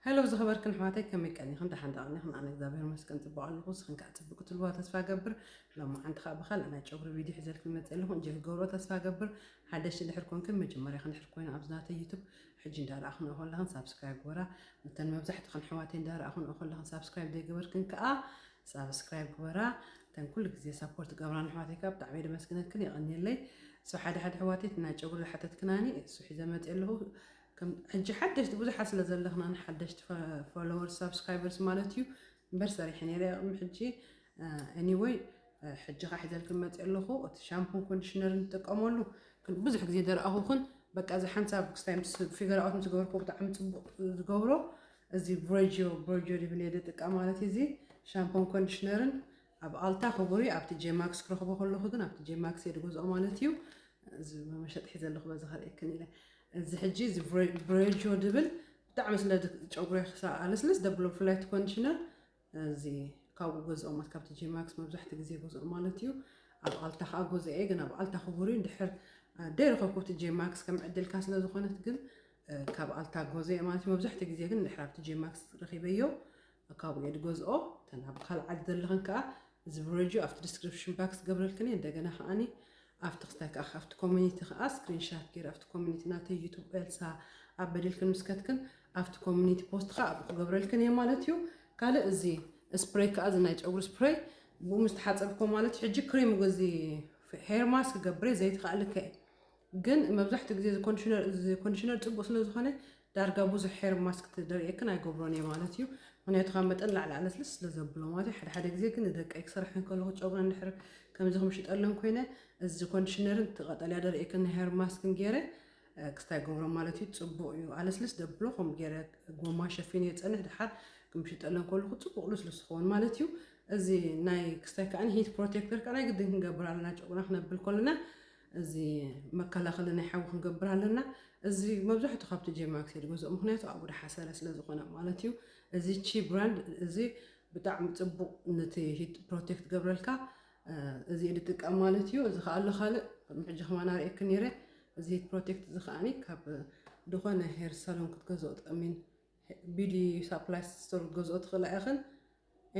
Hello ዝኸበርክን ኣሕዋተይ ከመይ ቀኒኽን ደሓን ዶ ቀኒኽን ኣነ እግዚኣብሔር ይመስገን ጽቡቕ ኣለኹ ንስኽን ከዓ ጽቡቕ ክትህልዋ ተስፋ እገብር ሎማዓንቲ ከዓ ብኻልእ ናይ ጨጉሪ ቪድዮ ሒዘልክን መጽእ ኣለኹ እንጆይ ክትገብርዎ ተስፋ እገብር ሓደሽቲ ድሕር ኮንክን መጀመርያኽ ድሕር ኮይና ኣብዚ ናተይ ዩቱብ ሕጂ እንዳረኣኽንኦ ከለኽን ሳብስክራይብ ግበራ እተን መብዛሕትኽን ኣሕዋተይ እንዳረኣኽንኦ ከለኽን ሳብስክራይብ ዘይገበርክን ከዓ ሳብስክራይብ ግበራ እተን ኩሉ ግዜ ሳፖርት ገብራን ኣሕዋተይ ከዓ ብጣዕሚ እየ ደመስግነክን የቐንየለይ እሱ ሓደ ሓደ ኣሕዋተይ እቲ ናይ ጨጉሪ ዝሓተትክናኒ እሱ ሒዘ መጽእ ኣለኹ ከም ሕጂ ሓደሽቲ ብዙሓት ስለ ዘለኽና ንሓደሽቲ ፎሎወርስ ሳብስክራይበርስ ማለት እዩ እምበር ሰሪሐ ነይረ ቅድሚ ሕጂ ኤኒወይ ሕጂ ከዓ ሒዘልክን መፅእ ኣለኹ እቲ ሻምፑን ኮንዲሽነርን ትጥቀመሉ ብዙሕ ግዜ ደረኣኹክን በቃ እዚ ሓንሳብ ክስታይ ምስ ፊገር ኣውት ምስ ገበርኩ ብጣዕሚ ፅቡቅ ዝገብሮ እዚ ቮጆ ቮጆ ሪቭኔ ድጥቀ ማለት እዩ እዚ ሻምፖን ኮንዲሽነርን ኣብ ኣልታ ክቡር እዩ ኣብ ቲጄ ማክስ ክረኽቦ ከለኹ ግን ኣብ ቲጄ ማክስ እየ ዝገዝኦ ማለት እዩ እዚ መመሸጢ ሒዘ ኣለኹ በዚ ከርእየክን ኢለ እዚ ሕጂ እዚ ብሬጆ ድብል ብጣዕሚ ስለ ጨጉሪ ክሳብ ኣለስለስ ደብሎ ብፍላይ እቲ ኮንዲሽነር እዚ ካብኡ ገዝኦ ማለት ካብ ቲጄ ማክስ መብዛሕትኡ ግዜ ገዝኦ ማለት እዩ ኣብ ኣልታ ከዓ ገዝኦ እየ ግን ኣብ ኣልታ ክቡር እዩ እንድሕር ደይረኸብኩ ቲጄ ማክስ ከም ዕድልካ ስለ ዝኾነት ግን ካብ ኣልታ ጎዘየ ማለት እዩ መብዛሕትኡ ግዜ ግን ድሕሪ ኣብቲ ጄማክስ ረኺበዮ ካብኡ እየ ዝገዝኦ እተን ኣብ ካልእ ዓዲ ዘለኽን ከዓ እዚ ብረጅዮ ኣብቲ ዲስክሪፕሽን ባክስ ገብረልክን እየ እንደገና ከዓኒ ኣብቲ ክስታይ ከዓ ካብቲ ኮሚኒቲ ከዓ ስክሪንሻት ገይረ ኣብቲ ኮሚኒቲ ናተይ ዩቱብ ኤልሳ ኣብ በዲልክን ምስ ከትክን ኣብቲ ኮሚኒቲ ፖስት ከዓ ኣብኡ ክገብረልክን እየ ማለት እዩ ካልእ እዚ ስፕሬይ ከዓ እዚ ናይ ጨጉሪ ስፕሬይ ብኡ ምስ ተሓፀብኮ ማለት ሕጂ ክሬም እዚ ሄር ማስክ ገብረ ዘይትኸእልከ ግን መብዛሕትኡ ግዜ እዚ ኮንዲሽነር እዚ ኮንዲሽነር ጽቡቅ ስለ ዝኾነ ዳርጋ ብዙሕ ሄር ማስክ ትደርየክን ኣይገብሮን እየ ማለት እዩ ምክንያቱ ካብ መጠን ላዕሊ ኣለስልስ ስለ ዘብሎ ማለት እዩ ሓደ ሓደ ግዜ ግን ንደቀይ ክሰርሐን ከለኹ ጨጉረን ድሕር ከምዚ ክምሽጠለን ኮይነ እዚ ኮንዲሽነርን ትቀጠልያ ደርየክን ናይ ሄር ማስክን ገይረ ክስታይ ገብሮ ማለት እዩ ጽቡቅ እዩ ኣለስልስ ደብሎ ከምኡ ገይረ ጎማ ሸፊን እየ ጸንሕ ድሓር ክምሽጠለን ከለኹ ጽቡቅ ልስሉስ ዝኸውን ማለት እዩ እዚ ናይ ክስታይ ከዓኒ ሂት ፕሮቴክተር ከዓኒ ግድን ክንገብር ኣለና ጨጉና ክነብል ከለና እዚ መከላኸሊ ናይ ሓዊ ክንገብር ኣለና። እዚ መብዛሕቱ ካብቲ ጄማክስ እየ ዝገዝኦ ምክንያቱ ኣብኡ ደሓ ሰለ ስለ ዝኮነ ማለት እዩ። እዚ ቺ ብራንድ እዚ ብጣዕሚ ጽቡቅ ነቲ ሂት ፕሮቴክት ገብረልካ እዚ እየ ዝጥቀም ማለት እዩ። እዚ ከኣ ኣሎ ካልእ ቅድሚ ሕጂ ከማን ኣርእየኪ ነይረ እዚ ሂት ፕሮቴክት እዚ ከኣኒ ካብ ዝኾነ ሄር ሳሎን ክትገዝኦ ትቀሚን ቢዲ ሳፕላይ ስቶር ክትገዝኦ ትኽእላ ኢኽን።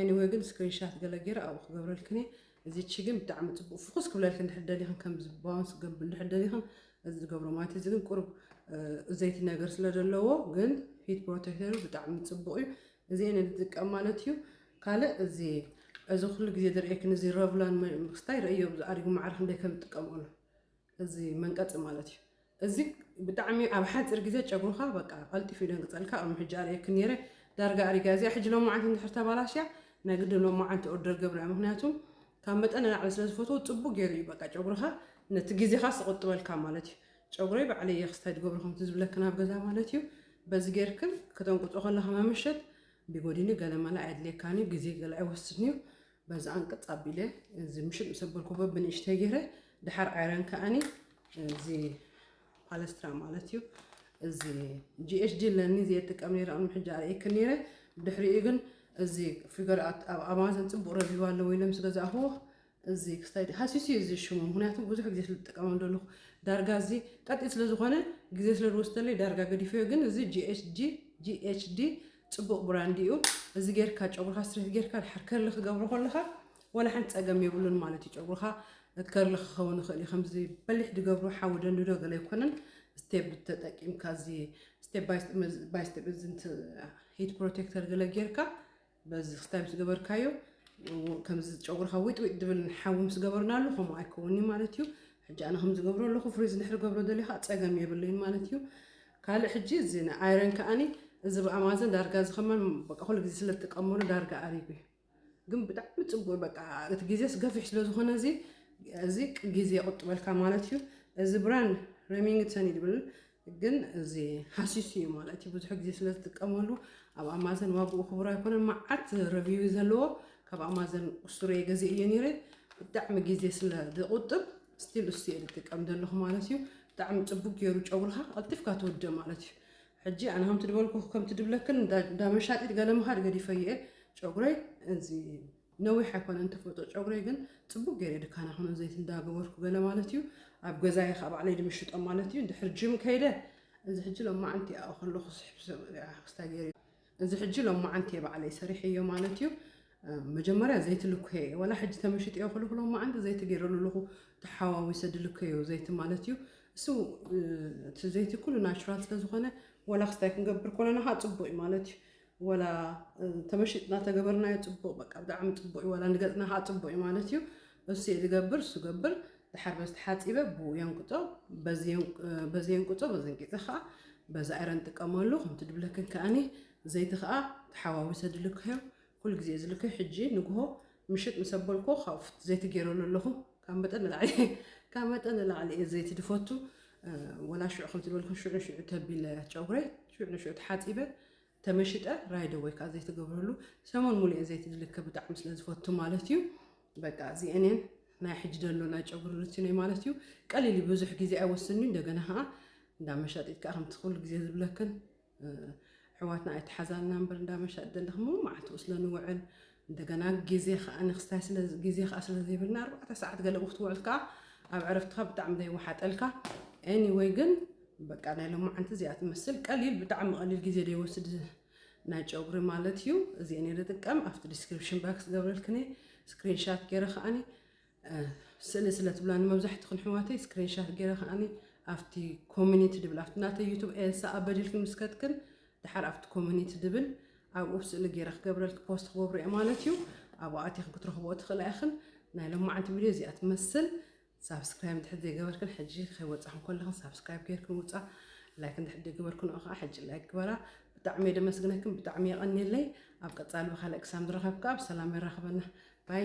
Anyway ግን ስክሪንሻት ገለ ጌረ ኣብኡ ክገብረልክን እየ እዚቺ ግን ብጣዕሚ ጽቡቅ ፍኩስ ክብለልክን እንድሕር ደሊክን ከምዚ ባውንስ ክገብር እንድሕር ደሊክን እዚ ዝገብሮ ማለት እዚ ግን ቁሩብ ዘይቲ ነገር ስለ ዘለዎ ግን ሂት ፕሮቴክተሩ ብጣዕሚ ጽቡቅ እዩ እዚ እየ ንጥቀም ማለት እዩ ካልእ እዚ እዚ ኩሉ ግዜ ዝርእየክን እዚ ረቭላን ክስታይ ርእዮ ኣሪጉ ማዕረ ክንደይ ከም ዝጥቀምኦ ነው እዚ መንቀፂ ማለት እዩ እዚ ብጣዕሚ ኣብ ሓጺር ግዜ ጨጉርኻ በቃ ቀልጢፉ ይደንግጸልካ ቅድሚ ሕጂ ኣርእየክን ነይረ ዳርጋ ኣሪጋ እዚኣ ሕጂ ሎማዓንቲ እንድሕር ተባላሽያ ናይ ግድን ሎማዓንቲ ኦርደር ገብራ ምክንያቱ ካብ መጠን ንላዕሊ ስለ ዝፈትዎ ጽቡቅ ገይሩ እዩ በቃ ጨጉርኻ ነቲ ግዜኻ ዝቁጥበልካ ማለት እዩ ጨጉረይ ባዕለይ እየ ክስታይ ድገብሮ ከምቲ ዝብለክን ኣብ ገዛ ማለት እዩ በዚ ጌርክን ከተንቁጾ ከለኻ መመሸት ቢጎዲኒ ገለ መለ ኣየድልየካን እዩ ግዜ ገለ ኣይወስድን እዩ በዚ ኣንቅጽ ኣቢለ እዚ ምሽጥ ምስ ኣበልኩዎ ብንእሽተይ ገይረ ድሓር ኣይረን ከኣኒ እዚ ፓለስትራ ማለት እዩ እዚ ጂኤችዲ ኣለኒ ዘየጥቀም ነይረ ቅድሚ ሕጂ ኣርእየክ ነይረ ድሕሪኡ ግን እዚ ፊገር ኣብ ኣማዞን ፅቡቅ ረቪው ኣለዎ ኢለ ምስ ገዛእኹዎ እዚ ክስታይ ሃሲሱ እዩ እዚ ሽሙ ምክንያቱ ብዙሕ ግዜ ስለ ዝጥቀመ ዘለኹ ዳርጋ እዚ ቀጢ ስለ ዝኾነ ግዜ ስለ ዝወስደለይ ዳርጋ ገዲፈዮ ግን እዚ ጂኤችዲ ጽቡቅ ብራንድ እዩ እዚ ጌርካ ጨጉርካ ስትሬት ጌርካ ድሓር ከርሊ ክገብሮ ከለካ ወላ ሓንቲ ጸገም የብሉን ማለት እዩ ጨጉርካ ከርሊ ክኸውን ይኽእል እዩ ከምዚ በሊሕ ድገብሩ ሓዊ ደንድዶ ገለ ኣይኮነን ስቴፕ ተጠቂምካ እዚ ስቴፕ ባይ ስቴፕ እዚ ሂት ፕሮቴክተር ገለ ጌርካ በዚ ክስታይ ምስ ገበርካዮ ከምዚ ጨጉርካ ዊጥዊጥ ድብል ሓዊ ምስ ገበርናሉ ከምኡ ኣይከውን እዩ ማለት እዩ ሕጂ ኣነ ከም ዝገብሮ ኣለኹ ፍሪዝ ንድሕሪ ገብሮ ደሊኻ ፀገም የብለይን ማለት እዩ ካልእ ሕጂ እዚ ናይ ኣይረን ከኣኒ እዚ ብ ኣማዘን ዳርጋ እዚ ከማን በቃ ኩሉ ግዜ ስለ ትጥቀመሉ ዳርጋ ኣሪጉ እዩ ግን ብጣዕሚ ጽቡቅ በቃ እቲ ግዜስ ገፊሕ ስለ ዝኮነ እዚ እዚ ግዜ ይቁጥበልካ ማለት እዩ እዚ ብራንድ ሬሚንግተን እዩ ዝብል ግን እዚ ሃሲሱ እዩ ማለት እዩ ብዙሕ ግዜ ስለ ዝጥቀመሉ ኣብ ኣማዘን ዋግኡ ክቡር ኣይኮነን መዓት ረቪው ዘለዎ ካብ ኣማዘን ቁስቱር እየ ገዜ እየ ነይረ ብጣዕሚ ግዜ ስለ ዝቁጥብ ስቲል እሱ እየ ዝጥቀም ዘለኹ ማለት እዩ ብጣዕሚ ፅቡቅ ገይሩ ጨጉርኻ ቀልጢፍካ ትወደ ማለት እዩ ሕጂ ኣነ ከምቲ ድበልኩ ከምቲ ድብለክን እንዳ መሻጢት ገለ ምኻድ ገዲፈዮ እየ ጨጉረይ እዚ ነዊሕ ኣይኮነን ተፈጥሮ ጨጉረይ ግን ፅቡቅ ገይረ ድካና ኮነ ዘይቲ እንዳገበርኩ ገለ ማለት እዩ ኣብ ገዛየ ከዓ ባዕለይ ድምሽጦ ማለት እዩ ድሕር ጅም ከይደ እዚ ሕጂ ሎማዓንቲ ኣብኡ ከለኹ ስሕብ ክስታይ ገይረ እዚ ሕጂ ሎማዓንቲ እየ ባዕለይ ሰሪሐዮ ማለት እዩ መጀመርያ ዘይቲ ልኮየ እየ ዋላ ሕጂ ተመሽጥዮ ክልኩ ሎማዓንቲ ዘይቲ ገይረሉ ኣለኹ ተሓዋዊሰ ድልከዮ ዘይቲ ማለት እዩ እሱ እቲ ዘይቲ ኩሉ ናቹራል ስለዝኾነ ዋላ ክስታይ ክንገብር ኮለና ከዓ ፅቡቅ እዩ ማለት እዩ ወላ ተመሽጥና ተገበርናዮ ፅቡቅ በቃ ብጣዕሚ ፅቡቅ እዩ ወላ ንገፅና ከዓ ፅቡቅ እዩ ማለት እዩ እሱይ ዝገብር እሱ ገብር ድሓር በዚ ተሓጺበ ብኡ የንቅጾ በዚ የንቅጾ በዚ እንቂጸ ከኣ በዚ ኣይረ ንጥቀመሉ ከምቲ ድብለክን ከኣኒ ዘይቲ ከኣ ተሓዋዊሰ ድልክዮ ኩሉ ግዜ ዝልክዮ ሕጂ ንግሆ ምሽጥ ምስ ኣበልኮ ካብ ፍቲ ዘይቲ ገይረሉ ኣለኹ ካብ መጠን ንላዕሊ ካብ መጠን ንላዕሊ እየ ዘይቲ ድፈቱ ወላ ሽዑ ከምቲ ዝበልኩ ሽዑ ንሽዑ ተቢለ ጨጉረይ ሽዑ ንሽዑ ተሓጺበ ተመሽጠ ራይደ ወይ ከዓ ዘይተገብረሉ ሰሙን ሙሉኤ ዘይቲ ድልከ ብጣዕሚ ስለ ዝፈቱ ማለት እዩ በቃ እዚኤኔን ናይ ሕጂ ደሎ ናይ ጨጉሪ ሩቲነይ ማለት እዩ ቀሊል እዩ ብዙሕ ግዜ ኣይወስድን እዩ እንደገና ከዓ እንዳ መሻጢት ከዓ ከምቲ ኩሉ ግዜ ዝብለክን ሕዋትና ኣይተሓዛልና እምበር እንዳ መሻጢ ዘለክሞ መዓልትኡ ስለ ንውዕል እንደገና ግዜ ከኣ ንክስታይ ስለ ግዜ ከኣ ስለ ዘይብልና ኣርባዕተ ሰዓት ገለ ብክትውዕል ከኣ ኣብ ዕረፍትካ ብጣዕሚ ደይወሓጠልካ ኤኒወይ ግን በቃ ናይ ሎማዓንቲ እዚኣ ትመስል ቀሊል ብጣዕሚ ቀሊል ግዜ ደይወስድ ናይ ጨጉሪ ማለት እዩ እዚኤን እየ ዝጥቀም ኣብቲ ዲስክሪፕሽን ባክስ ገብረልክኒ ስክሪንሻት ገይረ ከኣኒ ስእሊ ስለ ትብላኒ መብዛሕትኽን ሕዋተይ ስክሪንሻት ገይረ ከዓኒ ኣብቲ ኮሚኒቲ ድብል ኣብቲ ናተይ ዩቱብ ኤልሳ ኣበዲልክን ምስ ከትክን ድሓር ኣብቲ ኮሚኒቲ ድብል ኣብኡ ስእሊ ገይረ ክገብረልክ ፖስት ክገብሮ እየ ማለት እዩ ኣብኡ ኣቲኽን ክትረኽብኦ ትኽእላ ኢኽን ናይ ሎማዓንቲ ቪድዮ እዚኣ ትመስል ሳብስክራይብ እንድሕር ዘይገበርክን ሕጂ ከይወፃኽን ከለኽን ሳብስክራይብ ገይርክን ውፃ ላይክ እንድሕር ዘይገበርክንኦ ከዓ ሕጂ ላይክ ግበራ ብጣዕሚ እየ ደመስግነክም ብጣዕሚ የቀንየለይ ኣብ ቀፃሊ ብካልእ ክሳብ ንራከብ ካኣ ብሰላም የራክበና ባይ።